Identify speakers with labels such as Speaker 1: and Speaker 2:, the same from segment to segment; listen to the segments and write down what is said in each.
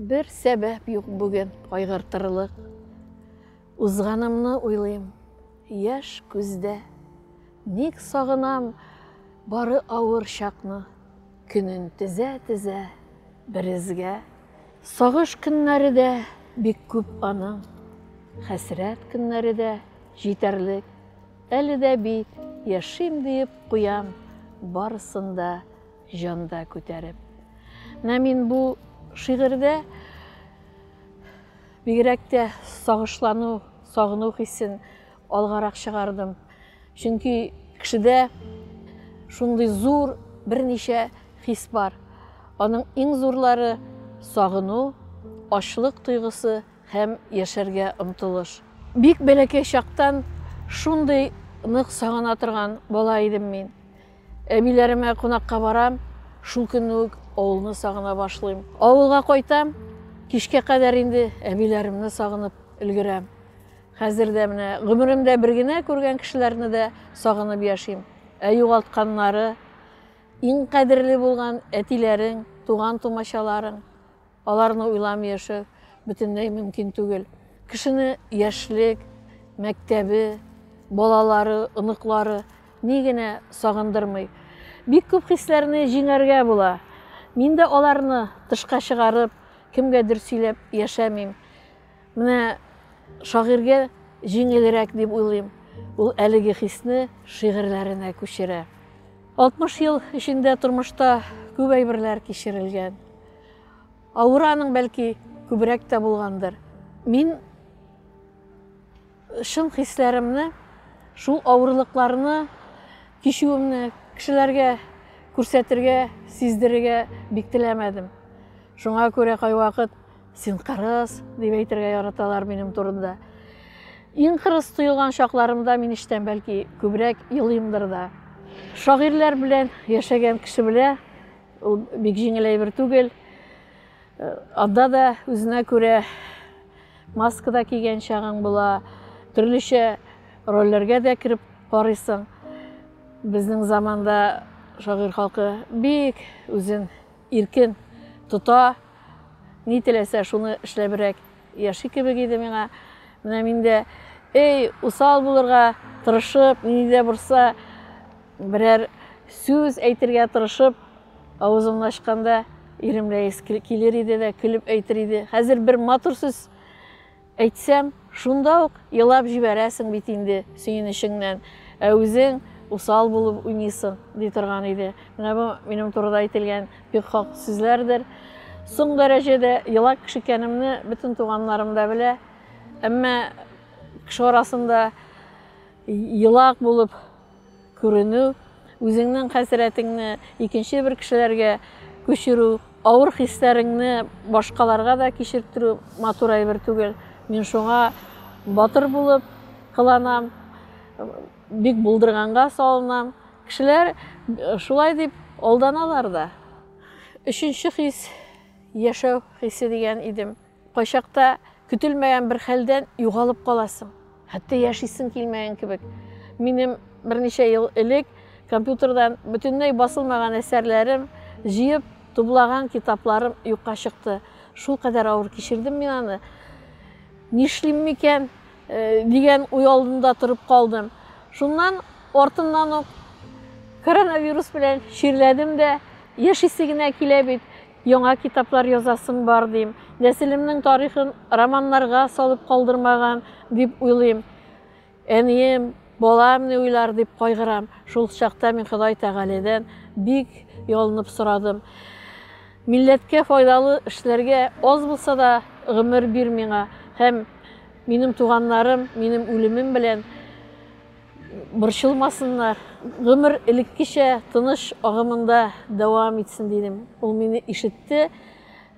Speaker 1: Бер сәбәп юк бүген кайгыртырлык. Узганымны уйлыйм, яшь күздә. Ник сагынам бары авыр чакны. Көнен тезә-тезә березгә. Сагыш көннәре дә бик күп аның. Хәсрәт көннәре дә җитәрлек. Әле дә бит яшим диеп куям барысын да. Җанда күтәреп. Менә мин бу шигырьдә бигрәк тә сагышлану, сагыну хисен алгарак чыгардым. Чөнки кешедә шундый зур берничә хис бар. Аның иң зурлары сагыну, ачлык тойгысы һәм яшәргә омтылыш. Бик бәләкәй чактан шундый нык сагына торган бала идем мин. Әбиләремә кунакка барам, шул көнне үк авылны сагына башлыйм. Авылга кайтам, кичкә кадәр инде әбиләремне сагынып өлгерәм. Хәзер дә менә гомеремдә бер генә күргән кешеләрне дә сагынып яшим. Ә югалтканнары, иң кадерле булган әтиләрең, туган-тумачаларың. Аларны уйламый яшәү бөтенләй мөмкин түгел. Кешене яшьлек, мәктәбе, балалары, оныклары ни генә сагындырмый. Бик күп хисләрне җиңәргә була. Мин дә аларны тышка чыгарып, кемгәдер сөйләп яшәмим. Менә шагыйрьгә җиңелрәк дип уйлыйм. Ул әлеге хисне шигырьләренә күчерә. 60 ел эчендә тормышта күп әйберләр кичерелгән. Аураның бәлки күбрәк тә булгандыр. Мин шын хисләремне, шул авырлыкларны кичүемне кешеләргә күрсәтергә, сиздерергә бик теләмәдем. Шуңа күрә кайвакыт син кырыс дип әйтергә яраталар минем турында. Иң кырыс тоелган чакларымда мин эчтән бәлки күбрәк елыймдыр да. Шагыйрьләр белән яшәгән кеше белә, Ул бик җиңел әйбер түгел. Э, анда да үзенә күрә маска да кигән чагың була, төрлечә рольләргә дә кереп карыйсың. Безнең заманда шагыйрь халкы бик үзен иркен тота, ни теләсә шуны эшләбрәк яши кебек иде миңа. Менә мин дә, эй, усал булырга тырышып, ни дә борса, Берәр сүз әйтергә тырышып, авызымны ачканда, ирем Рәис килер иде дә, көлеп әйтер иде. Хәзер бер матур сүз әйтсәм, шунда ук елап җибәрәсең бит инде сөенечеңнән. Ә үзең усал булып уйныйсың, ди торган иде. Менә бу минем турыда әйтелгән бик хак сүзләрдер. Соң дәрәҗәдә елак кеше икәнемне бөтен туганнарым да белә. Әмма кеше арасында елак булып Күренү, үзеңнең хәсрәтеңне икенче бер кешеләргә күчерү, авыр хисләреңне башкаларга да кичертерү матур әйбер түгел. Мин шуңа батыр булып кыланам, бик булдырганга салынам. Кешеләр э, шулай дип алданалар да. Өченче хис, яшәү хисе дигән идем. Кайчакта көтелмәгән бер хәлдән югалып каласың. Хәтта яшисең килмәгән кебек. Минем берничә ел элек компьютердан бөтенләй басылмаган әсәрләрем, җыеп тублаган китапларым юкка чыкты. Шул кадәр авыр кичердем мин аны. Нишлим микән э, дигән уй алдында торып калдым. Шуннан артыннан ук коронавирус белән чирләдем дә, яшисе генә килә бит. Яңа китаплар язасым бар, дим. Нәселемнең тарихын романнарга салып калдырмаган, дип уйлыйм. Әнием, балам ни уйлар, дип кайгырам. Шул чакта мин Ходай Тәгаләдән бик ялынып сорадым. Милләткә файдалы эшләргә аз булса да гомер бир миңа һәм минем туганнарым минем үлемем белән борчылмасыннар, гомер элеккечә тыныч агымында дәвам итсен, дидем. Ул мине ишетте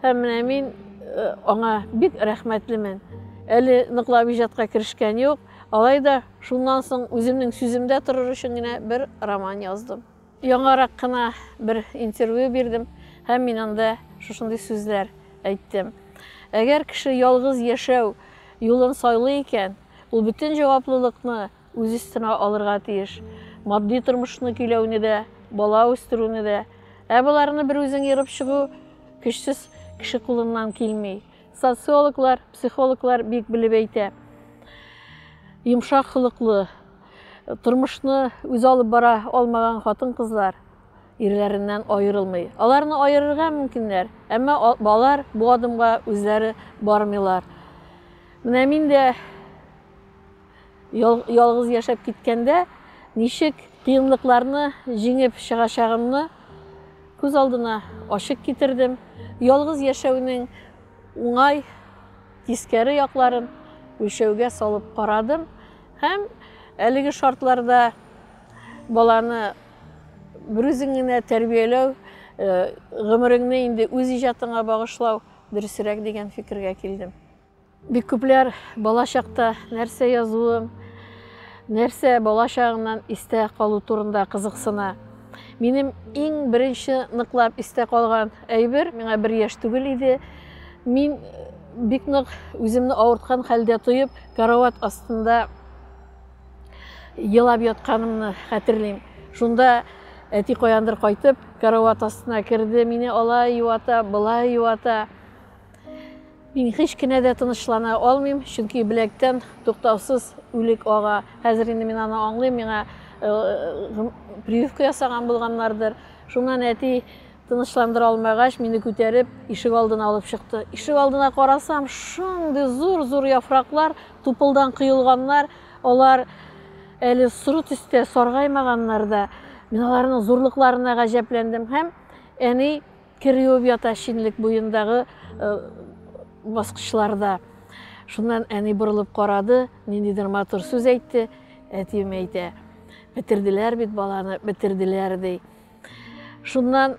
Speaker 1: һәм менә мин э, аңа бик рәхмәтлемен. Әле ныклап иҗатка керешкән юк, алай да шуннан соң үземнең сүземдә торыр өчен генә бер роман яздым. Яңарак кына бер интервью бирдем һәм мин анда шушындый сүзләр әйттем. Әгәр кеше ялгыз яшәү юлын сайлый икән, Ул бөтен җаваплылыкны үз өстенә алырга тиеш. Матди тормышны көйләүне дә, бала үстерүне дә. Ә боларны бер үзең ерып чыгу көчсез кеше кулыннан килми. Социологлар, психологлар бик белеп әйтә. Йомшак холыклы, тормышны үз алып бара алмаган хатын-кызлар ирләреннән аерылмый. Аларны аерырга мөмкиннәр, әмма алар бу адымга үзләре бармыйлар. Менә мин дә ялгыз яшәп киткәндә ничек кыенлыкларны җиңеп чыгачагымны күз алдына ачык китердем. Ялгыз яшәүнең уңай, тискәре якларын үлчәүгә салып карадым һәм әлеге шартларда баланы Берүзеңне тәрбияләү, гомереңне инде үз иҗатыңа багышлау дөресрәк дигән фикергә килдем. Бик күпләр бала чакта нәрсә язуым, нәрсә бала чагыңнан истә калу турында кызыксына. Минем иң беренче ныклап истә калган әйбер, миңа бер яшь түгел иде. Мин бик нык үземне авырткан хәлдә тоеп, карават астында Елап ятканымны хәтерлим. Шунда әти каяндыр кайтып, карават астына керде, мине алай юата, былай юата. Мин һич кенә дә тынычлана алмыйм, чөнки беләктән туктаусыз үлек ага. Хәзер инде мин аны аңлыйм, миңа э, прививка ясаган булганнардыр. Шуннан әти Тынычландыра алмагач, мине күтәреп, ишек алдына алып чыкты. Ишек алдына карасам, шундый зур-зур яфраклар, тупылдан коелганнар, алар әле соры төстә, саргаймаганнар да. Мин аларның зурлыкларына гаҗәпләндем һәм әни кер юып ята шинлек буендагы э, баскычларда. Шуннан әни борылып карады, ниндидер матур сүз әйтте, әтием әйтә. Бетерделәр бит баланы, бетерделәр ди. Шуннан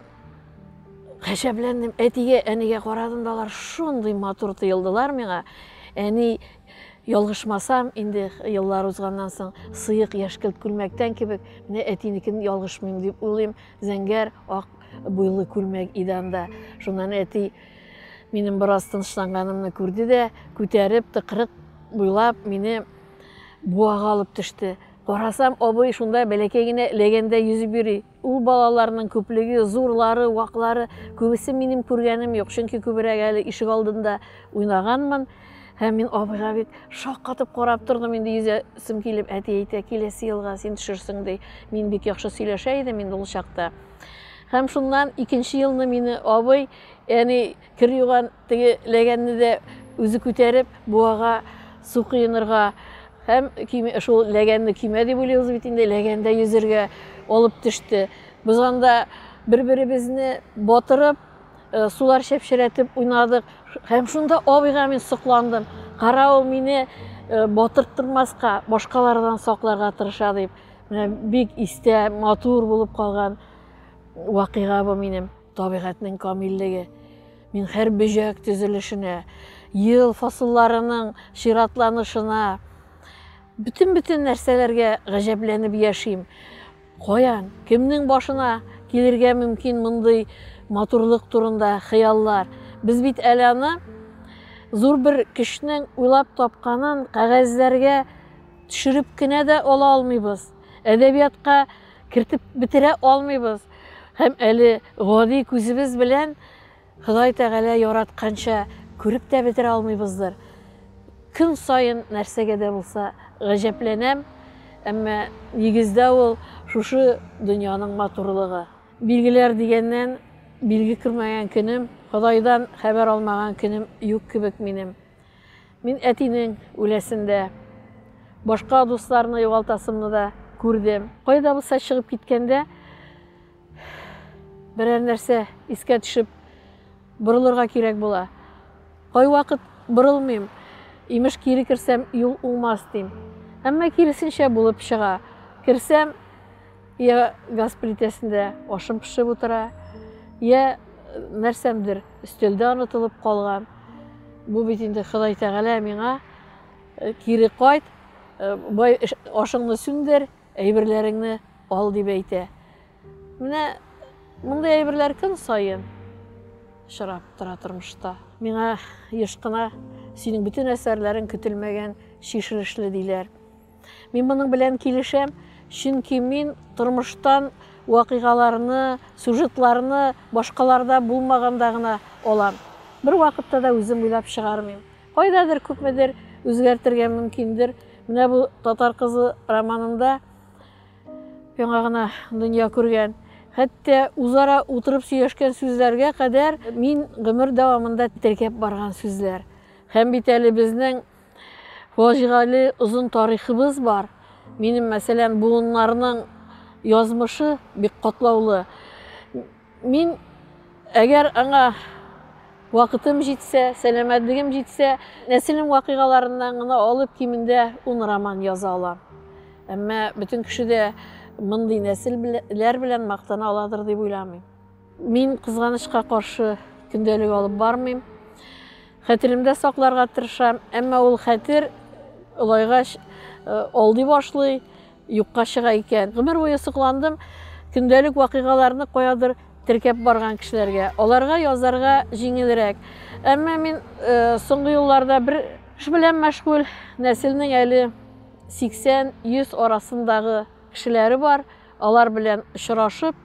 Speaker 1: гаҗәпләндем. Әтигә, әнигә карадым да алар шундый матур тоелдылар миңа. Әни ялгышмасам, инде еллар узганнан соң сыек яшькелт күлмәктән кебек, менә әтинекен ялгышмыйм дип уйлыйм, зәңгәр ак буйлы күлмәк иде анда. Шуннан әти минем бераз тынычланганымны күрде дә, күтәреп, тыкрык буйлап, мине буага алып төште. Карасам, абый шунда бәләкәй генә ләгәндә йөзеп йөри. Ул балаларның күплеге, зурлары, ваклары, күбесе минем күргәнем юк, чөнки күбрәк әле ишек алдында уйнаганмын. Һәм мин абыйга бит шаккатып карап тордым, инде йөзәсем килеп, әти әйтә, киләсе елга син төшерсең, ди. Мин бик яхшы сөйләшә идем инде ул чакта. Һәм шуннан икенче елны мине абый, әни, Кер юган теге ләгәнне дә үзе күтәреп, буага су коенырга һәм шул ләгәнне көймә дип уйлыйбыз бит инде, ләгәндә йөзергә алып төште. Без анда бер-беребезне батырып, э, сулар чәпчерәтеп уйнадык. Һәм шунда абыйга мин сокландым. Кара ул мине э, батырттырмаска, башкалардан сакларга тырыша дип. Менә бик истә, матур булып калган вакыйга бу минем. Табигатьнең камиллеге. Мин һәр бөҗәк төзелешенә, ел фасылларының чиратланышына, бөтен-бөтен нәрсәләргә гаҗәпләнеп яшим. Каян, кемнең башына килергә мөмкин мондый матурлык турында хыяллар? Без бит әле аны зур бер кешенең уйлап тапканын кәгазьләргә төшереп кенә дә ала алмыйбыз. Әдәбиятка Кертеп бетерә алмыйбыз. Һәм әле гади күзебез белән Ходай Тәгалә яратканча күреп тә бетерә алмыйбыздыр. Көн саен нәрсәгә дә булса гаҗәпләнәм, әмма нигездә ул шушы дөньяның матурлыгы. Билгеләр дигәннән, билге күрмәгән көнем, Ходайдан хәбәр алмаган көнем юк кебек минем. Мин әтинең үләсен дә, башка дусларны югалтасымны да күрдем. Кайда булса чыгып киткәндә, берәр нәрсә искә төшеп, борылырга кирәк була. Кайвакыт борылмыйм, имеш кире керсәм, юл уңмас дим. Әмма киресенчә булып чыга. Керсәм, Йә газ плитәсендә ашым пешеп утыра, йә нәрсәмдер өстәлдә онытылып калган. Бу бит инде Ходай Тәгалә миңа э, кире кайт, э, бай ашыңны сүндер, әйберләреңне ал дип әйтә. Менә мондый әйберләр көн саен очрап тора тормышта. Миңа еш кына синең бөтен әсәрләрең көтелмәгән шишелешле диләр. Мин моның белән килешәм, чөнки мин тормыштан вакыйгаларны, сюжетларны башкаларда булмаганда гына алам. Бер вакытта да үзем уйлап чыгармыйм. Кайдадыр күпмедер үзгәртергә мөмкиндер. Менә бу татар кызы романында яңа гына дөнья күргән хәтта үзара утырып сөйләшкән сүзләргә кадәр мин гомер дәвамында теркәп барган сүзләр. Һәм бит әле безнең Фаҗигале озын тарихыбыз бар. Минем, мәсәлән, буыннарның язмышы бик катлаулы. Мин, әгәр аңа вакытым җитсә, сәламәтлегем җитсә, нәселем вакыйгаларыннан гына алып кимендә ун роман яза алам. Әмма бөтен кеше дә мондый нәселләр белән мактана аладыр дип уйламыйм. Мин, кызганычка каршы, көндәлек алып бармыйм. Хәтеремдә сакларга тырышам, әмма ул хәтер олайгач э, алдый башлый, юкка чыга икән. Гомер буе сокландым көндәлек вакыйгаларны каядыр теркәп барган кешеләргә. Аларга язарга җиңелрәк. Әмма мин э, соңгы елларда бер эш белән мәшгуль, нәселнең әле 80-100 арасындагы кешеләре бар. Алар белән очрашып,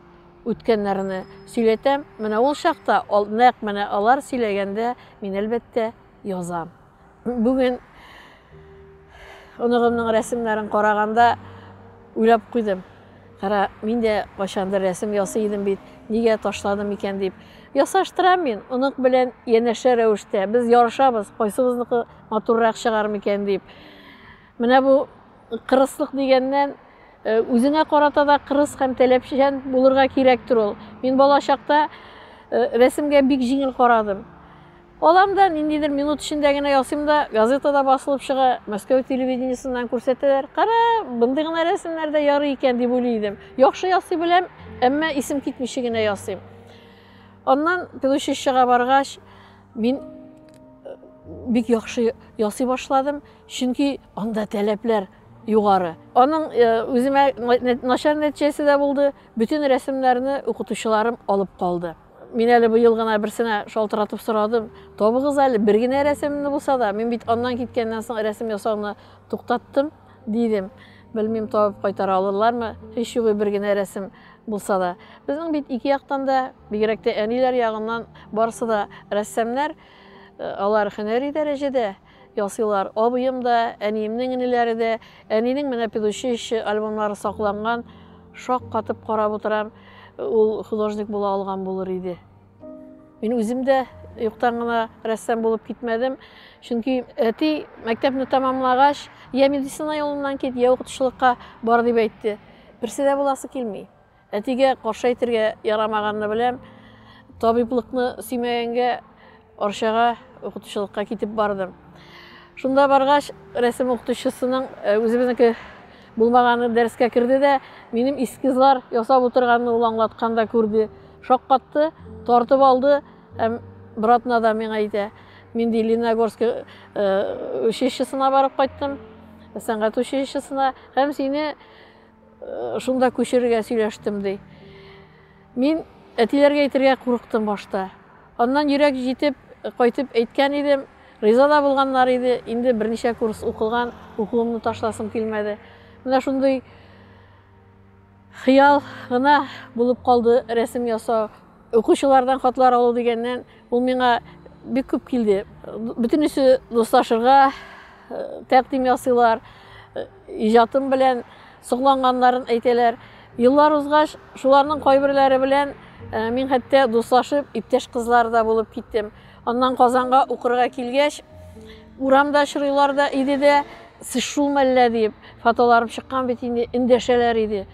Speaker 1: Үткәннәрне сөйләтәм, менә ул чакта, нәкъ менә алар сөйләгәндә мин, әлбәттә, язам. Бүген оныгымның рәсемнәрен караганда уйлап куйдым. Кара, мин дә кайчандыр рәсем ясый идем бит, нигә ташладым икән дип. Ясаштырам мин, онык белән янәшә рәвештә. Без ярышабыз, кайсыбызныкы матуррак чыгар микән дип. Менә бу Кырыслык дигәннән, үзеңә карата да кырыс һәм таләпчән булырга кирәктер ул. Мин бала чакта рәсемгә бик җиңел карадым. Алам да, ниндидер минут эчендә генә ясыйм да, газетада басылып чыга, Мәскәү телевидениесеннән күрсәтәләр. Кара, бындый гына рәсемнәр дә ярый икән, дип уйлый идем. Яхшы ясый беләм, әмма исем китмичә генә ясыйм. Аннан педучилищега баргач, Мин э, бик яхшы ясый башладым, чөнки анда таләпләр югары. Аның э, үземә начар нәтиҗәсе дә булды. Бөтен рәсемнәрне укытучыларым алып калды. Мин әле быел гына берсенә шалтыратып сорадым. Табыгыз әле бер генә рәсемне булса да. Мин бит аннан киткәннән соң рәсем ясауны туктаттым. Дидем. Белмим, табып кайтара алырлармы, һич югы бер генә рәсем булса да. Безнең бит ике яктан да, бигрәк тә әниләр ягыннан барысы да рәссамнар, э, алар һөнәри дәрәҗәдә ясыйлар. Абыем да, әниемнең энеләре дә, әнинең менә педучилище альбомнары сакланган, шаккатып карап утырам, ул художник була алган булыр иде. Мин үзем дә юктан гына рәссам булып китмәдем. Чөнки әти мәктәпне тәмамлагач, я медицина юлыннан кит, я укытучылыкка бар дип әйтте. Берсе дә буласы килми. Әтигә каршы әйтергә ярамаганны беләм. Табиблыкны сөймәгәнгә Арчага укытучылыкка китеп бардым. Шунда баргач, рәсем укытучысының үзебезнеке Булмаганы дәрескә керде дә, минем эскизлар ясап утырганны ул аңлаткан да күрде. Шаккатты, тартып алды һәм братна да миңа әйтә. Мин ди Лениногорск э, училищесына барып кайттым, сәнгать училищесына һәм сине э, шунда күчерергә сөйләштем ди. Мин әтиләргә әйтергә курыктым башта. Аннан йөрәк җитеп, кайтып әйткән идем. Риза да булганнар иде. Инде берничә курс укылган, укуымны ташласым килмәде. Менә шундый хыял гына булып калды рәсем ясау. Укучылардан хатлар алу дигәннән, ул миңа бик күп килде. Бөтенесе дуслашырга тәкъдим ясыйлар. иҗатым белән сокланганнарын әйтәләр. Еллар узгач, шуларның кайберләре белән э, мин хәтта дуслашып, иптәш кызлар да булып киттем. Аннан Казанга укырга килгәч, урамда очрыйлар да иде дә, сез шул мәллә дип, фотоларым чыккан бит инде, эндәшәләр иде.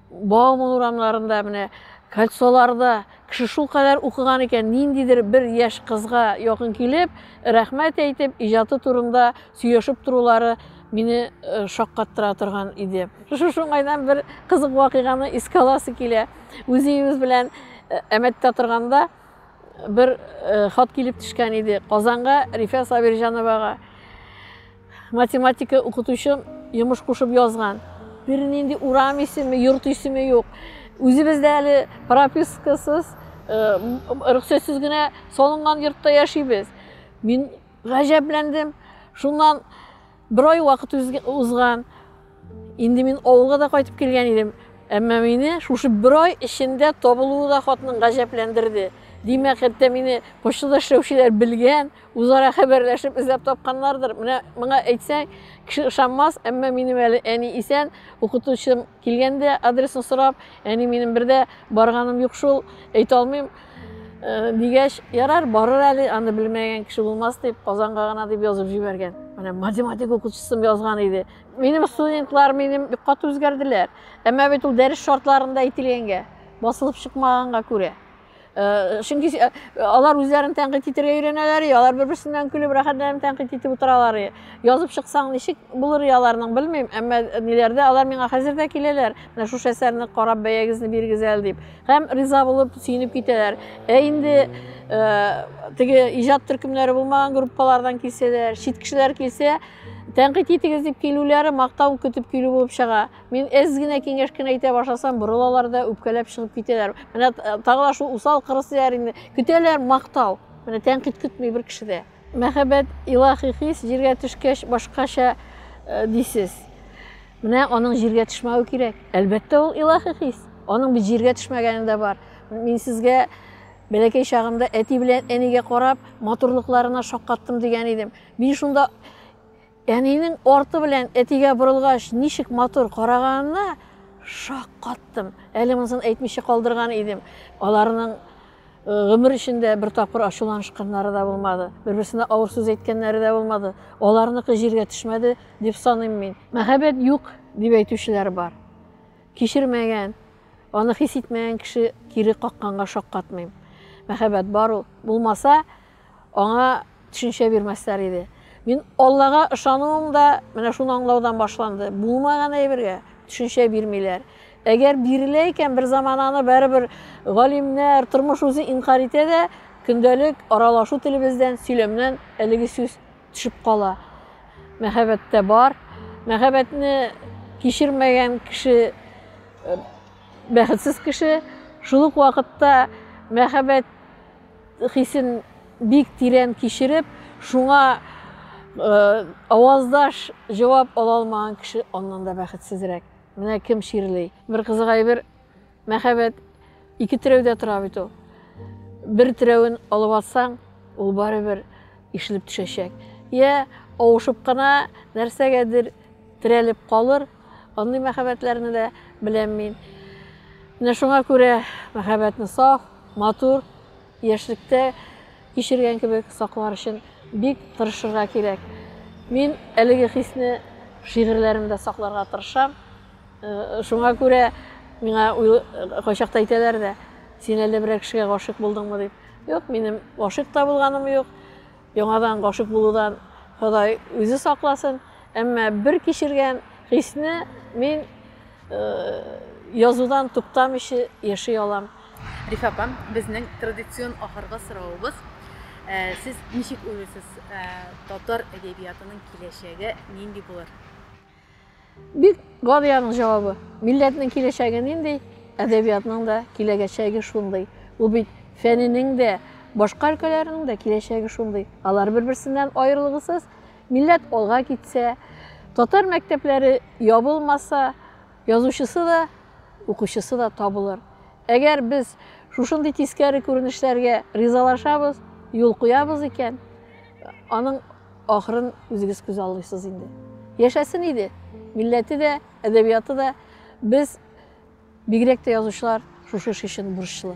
Speaker 1: Бауман урамнарында менә кольцоларда кеше шулкадәр укыган икән, ниндидер бер яшь кызга якын килеп, рәхмәт әйтеп, иҗаты турында сөйләшеп торулары мине э, шаккаттыра торган иде. Шушы уңайдан бер кызык вакыйганы искә аласы килә. Үзебез белән э, Әмәттә торганда бер э, хат килеп төшкән иде. Казанга Рифә Сабирҗановага Математика укытучым йомыш кушып язган. Бернинди урам исеме, йорт исеме юк. Үзебез дә әле пропискасыз, рөхсәтсез генә салынган йортта яшибез. Мин гаҗәпләндем. Шуннан бер ай вакыт узган. Инде мин авылга да кайтып килгән идем, әмма мине шушы бер ай эчендә табылуы да хатның гаҗәпләндерде. Димәк, хәтта мине почтада эшләүчеләр белгән, үзара хәбәрләшеп эзләп тапканнардыр. Менә моңа әйтсәң, кеше ышанмас, әмма минем әле әни исән, укытучым килгәндә адресны сорап, әни минем бер дә барганым юк шул, әйтә алмыйм. Э, дигәч, ярар, барыр әле, аны белмәгән кеше булмас дип, Казанга гына дип язып җибәргән. Менә математик укытучысым язган иде. Минем студентлар минем бик каты үзгәрделәр. Әмма бит ул дәрес шартларында әйтелгәнгә, басылып чыкмаганга күрә. Э, чөнки э, алар үзләрен тәнкыйть итәргә өйрәнәләр, алар бер-берсеннән көлеп рәхәтләнеп тәнкыйть итеп утыралар. Язып чыксаң ничек булыр аларның белмим, әмма ниләрдә алар миңа хәзер дә киләләр. Менә шушы әсәрне карап бәягезне бирегез әле дип. Һәм риза булып сөенеп китәләр. Ә инде э, теге иҗат төркемнәре булмаган группалардан килсәләр, чит кешеләр килсә, Тәнкыйть итегез дип килүләре мактау көтеп килү булып чыга. Мин әз генә киңәш кенә әйтә башласам, борылалар да үпкәләп чыгып китәләр. Менә э, тагы да шул усал кырыс дияр инде. Көтәләр мактау. Менә тәнкыйть көтми бер кеше дә. Мәхәббәт илаһи хис җиргә төшкәч башкача э, дисез. Менә аның җиргә төшмәве кирәк. Әлбәттә ул илаһи хис. Аның бит җиргә төшмәгәне дә бар. Мин сезгә бәләкәй чагымда әти белән әнигә карап, матурлыкларына шаккаттым дигән идем. Мин шунда әнинең арты белән әтигә борылгач, ничек матур караганына шаккаттым. Әле монысын әйтмичә калдырган идем. Аларның гомер эчендә бер тапкыр ачуланышканнары да булмады. Бер-берсенә авыр сүз әйткәннәре дә булмады. Аларныкы җиргә төшмәде дип саныйм мин. Мәхәббәт юк дип әйтүчеләр бар. Кичермәгән, аны хис итмәгән кеше кире какканга шаккатмыйм. Мәхәббәт бар ул. Булмаса, аңа төшенчә бирмәсләр иде. Мин Аллага ышануым да менә шуны аңлаудан башланды. Булмаган әйбергә төшенчә бирмиләр. Әгәр бирелә икән, бер заман аны бәребер галимнәр, тормыш үзе инкар итә дә, көндәлек аралашу телебездән, сөйләмнән әлеге сүз төшеп кала. Мәхәббәттә бар. Мәхәббәтне кичермәгән кеше э, бәхетсез кеше. Шул ук вакытта мәхәббәт Хисен бик тирән кичереп, шуңа аваздаш җавап ала алмаган кеше аннан да бәхетсезрәк. Менә кем чирли. Бер кызык әйбер, мәхәббәт ике терәүдә тора бит ул. Бер терәвен алып атсаң, ул барыбер ишелеп төшәчәк. Я авышып кына нәрсәгәдер терәлеп калыр, Андый мәхәббәтләрне дә беләм мин. Менә шуңа күрә мәхәббәтне саф, матур, яшьлектә кичергән кебек саклар өчен бик тырышырга кирәк. Мин әлеге хисне шигырьләремдә сакларга тырышам. Э, шуңа күрә миңа кайчакта әйтәләр дә, син әллә берәр кешегә гашыйк булдыңмы дип. Юк, минем гашыйк та булганым юк. Яңадан гашыйк булудан Ходай үзе сакласын, әмма бер кичергән хисне мин язудан туктамыйча яши алам. Рифә апа,
Speaker 2: безнең традицион ахыргы соравыбыз, сез ничек уйлыйсыз, татар әдәбиятының киләчәге нинди булыр?
Speaker 1: Бик гади аның җавабы. Милләтнең киләчәге нинди, әдәбиятның да киләгәчәге шундый. Ул бит фәненең дә, башка өлкәләрнең дә киләчәге шундый. Алар бер-берсеннән аерылгысыз. Милләт алга китсә, татар мәктәпләре ябылмаса, язучысы да, укучысы да табылыр. Әгәр без шушындый тискәре күренешләргә ризалашабыз, юл куябыз икән, аның Ахырын үзегез күз алыйсыз инде. Яшәсен иде. Милләте дә, әдәбияты да без бигрәк тә язучылар шушы эш өчен бурычлы.